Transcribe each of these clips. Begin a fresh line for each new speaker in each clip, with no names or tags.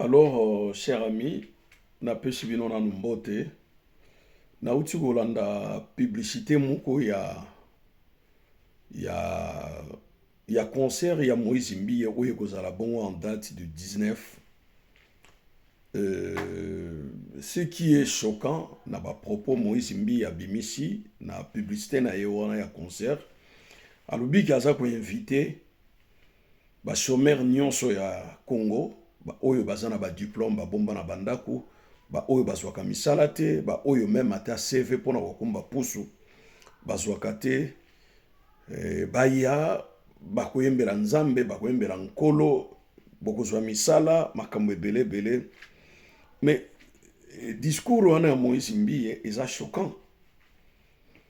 Alors, euh, cher ami, napesi bino nanu mbote. Nauti kolanda publicité moko ya ya ya concert ya Moïse Mbiye oyo ekozala bongo en date du 19 euh, ce qui est choquant na ba propos Moïse Mbiye abimisi na publicité na ye wana ya concert alobi ke aza koinvite Ba chomeurs nionso ya Congo, ba oyo baza na ba diplomes, ba bomba na ba ndaku, ba oyo bazwaka misala te, ba oyo meme ata CV pona kokumba pusu bazwaka te, baya bakoyembela Nzambe, bakoyembela Nkolo, bokozwa misala, makambo ebele ebele. Mais discours wana ya Moise Mbiye eza choquant.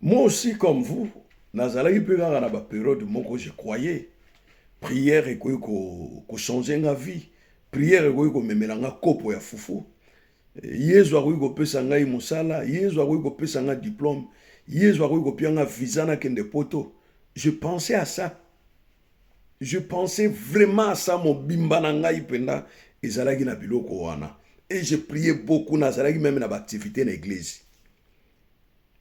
Moi aussi comme vous nazalaki mpe kaka na ba periode moko je croyais prière ekoki kochanger nga vie prière ekoki komemela nga kopo ya fufu yezu akoki kopesa ngai mosala yezu akoki kopesa nga diplome yezu akoki kopia nga visa nakende poto je pensais à ça je pensais vraiment à ça mobimba na ngai mpenza ezalaki na biloko wana et je priais beaucoup nazalaki meme na baactivité na eglise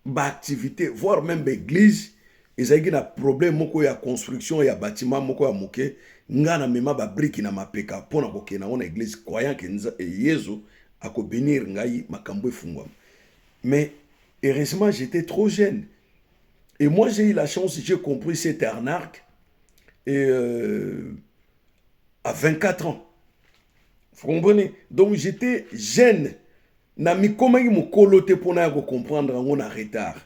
ba activité voire même ba église ezalaki na problème moko ya construction ya bâtiment moko ya moke nga na mema ba brique na mapeka mpo na kokende yango na église croyant que eh, yezu akobénir ngai makambo efungwama mais heureusement j'étais trop jeune et moi j'ai eu la chance j'ai compris cette arnaque et euh, à 24 ans vous comprenez donc j'étais jeune Na mikomaki mokolo te mpo naya kocomprendre yango na retard.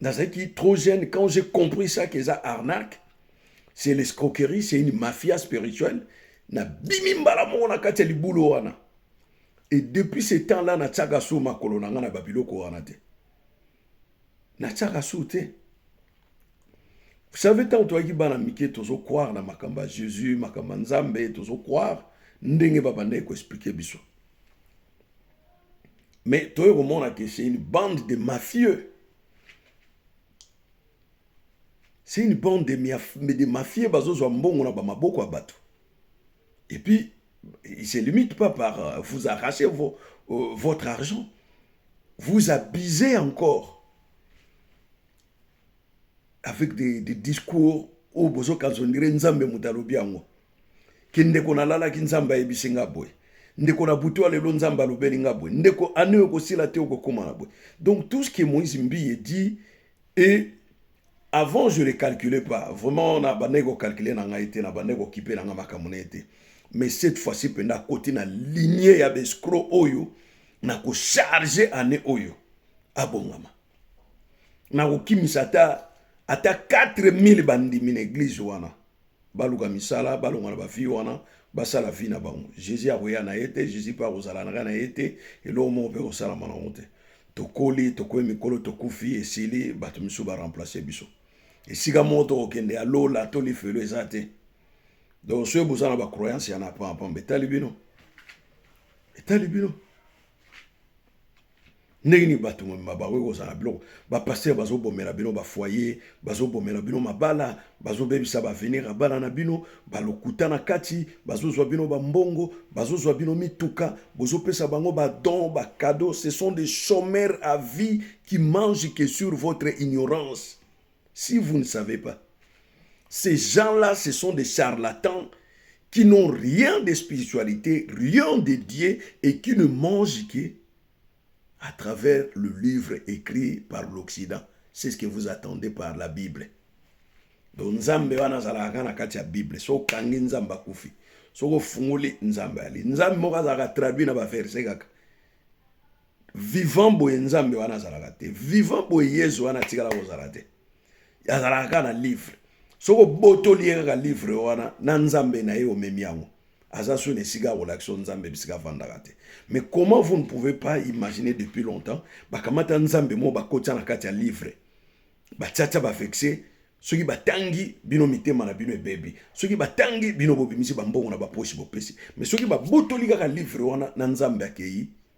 Nazalaki trop jeune quand j'ai compris ça que eza arnaque, c'est l'escroquerie, c'est une mafia spirituelle. Nabimi mbala moko na kati ya libulu wana. Et depuis ce temps-là, natiaka su makolo na nga na babiloko wana te. Natiaka su te. Vous savez, tant toyaki bana mike tozo croire na makambo ya Jésus, makambo ya Nzambe, tozo croire ndenge babandaki ko expliquer biso. Mais toye komona que c'est une bande de mafieux. C'est une bande de, miaf, de mafieux bazozwa mbongo na bamaboko ya bato. Et puis, il se limite pas par euh, vous arracher vos, euh, votre argent. Vous abusez encore. avec des, des discours oyo bozokanisa ondire nzambe moto alobi yango ke ndeko nalalaki nzambe ayebisi nga boye ndeko na butu ya lelo nzambe alobeli nga boye ndeko ane oyo kosila te okokóma na boye donc tout ce que moïse mbiye dit et avant je ne calculais pas vraiment na bandaki kocalcule na ngai te na bandaki kokipe na ngai makambo na ye te mais cette fois-ci mpenza akoti na linie ya bescro oyo na kocharge ane oyo abongama na kokimisa ata ata 4000 bandimi na eglize wana baluka misala balonga na bafille wana basala vie na bango jésus akoya na ye te jésus mpe akozala naka na ye te eloko moko mpe kosalama nango te tokoli tokomi mikolo tokufi esili bato mosusu baremplace biso esika moko tokokende ya lola to lifelo eza te donc soki boza na bacroyance ya na pampamba etali bino etali bino ndenge nini bato bakoki kozala biloko bapaster bazobomela bino bafoye bazobomela bino mabala bazobebisa baavenir ya bana na bino balokuta na kati bazozwa bino bambongo bazozwa bino mituka bozopesa bango badon bacado ce sont des chomeurs à vie qui mange que sur votre ignorance Si vous ne savez pas, ces gens-là, ce sont des charlatans qui n'ont rien de spiritualité, rien de Dieu et qui ne mangent que à travers le livre écrit par l'Occident. C'est ce que vous attendez par la Bible. Donc, Nzambe wana azalaka na kati ya Bible. So kangi Nzambe akufi. Soko fungoli Nzambe ali. Nzambe moko azalaka traduit na ba verset kaka. vivant boye nzambe wana azalaka te vivant boye yezu wana atikala kozala te azalaka kaka na livre soki obotoli ye kaka livre wana na nzambe na ye omemi yango aza so na esika ya kolakisa nzambe bisika avandaka te mais comment vous ne pouvez pas imaginer depuis longtemps bakamata nzambe moko bakotya na kati ya livre batiatya bavexe soki batangi bino mitema na bino ebebi soki batangi bino bobimisi bambongo na baposi bopesi mais soki babotoli kaka livre wana na nzambe akei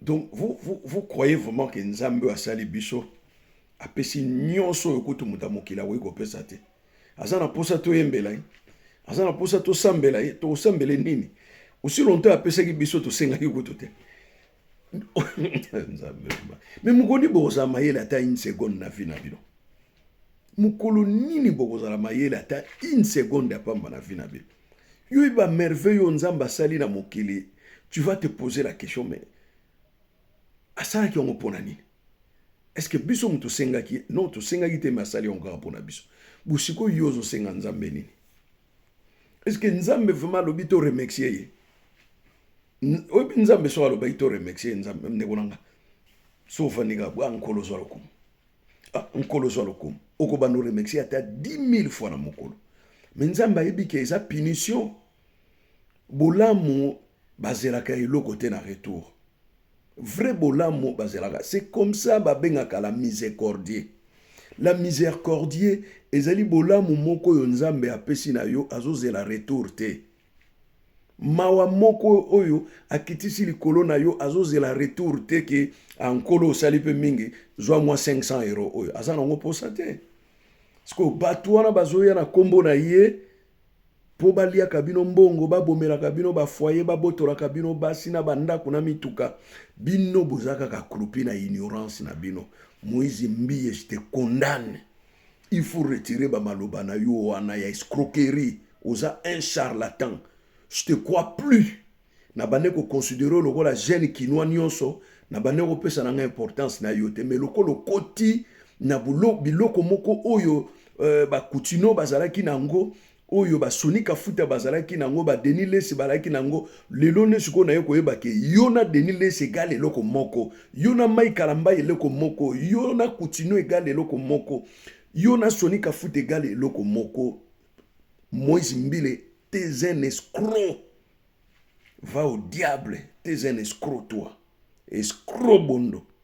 Donc vous, vous, vous croyez vraiment que Nzambe asali biso apesi nyonso oyo kutu moto ya mokili akoki kopesa te aza na mposa toyembela ye aza na mposa tosambela ye tokosambele nini osi lonto apesaki biso tosengaki kutu te nzambe me mokoni bokozala mayele ata une seconde na vi na bino mukolo nini bokozala mayele ata une seconde ya pamba na vie na bino yo ba merveille oyo nzambe asali na mokili tu vas te poser la question mais asalaki yango mpona nini est-ce que biso moto tosengaki non tosengaki te me asali yango kaka mpona biso bosikoyo yo ozosenga nzambe nini est-ce que nzambe vraiment alobi to remercie ye oyebi nzambe soki alobaki to remercie ye nzambe ndeko na nga so ofandi kaka bwa nkolo ozwa lokumu Ah, nkolo zwa lokumu okobanda oremexi ata 10000 fois na mokolo me nzambe ayebi ke eza punition bolamu bazelaka eloko te na retour vrai bolamu bazelaka c'est comme ça babengaka la miséricordie la miséricordie ezali bolamu moko oyo nzambe apesi na yo azozela retour te mawa moko oyo akitisi likolo na yo azozela retour te ke ah, nkolo osali mpe mingi zwa mwa 500 euro oyo aza na yango mposa te sikoyo bato wana bazoya na nkombo na ye mpo baliaka bino mbongo babomelaka bino bafoye babotolaka bino basi na bandako na mituka bino boza kaka krupi na ignorance na bino moise mbiye je te condamne Il faut retirer ba maloba na yo wana ya escroquerie. Oza un charlatan. Je te crois plus. Na bande ko considérer lokola jeune kinois nionso, na bande ko pesa na nga importance na yo te. Mais lokola okoti na biloko moko oyo euh, ba kutino bazalaki na yango oyo ba Sony Kafuta bazalaki nango ba Denis Lesi balaki nango lelo nde sikoyo naye koyeba ke yo na Denis Lesi egale eloko moko yo na Mike Kalambay eloko moko yo na Kutino egale eloko moko yo na Sony Kafuta egale eloko moko Moise Mbile t'es un escroc va au diable t'es un escroc toi escroc bondo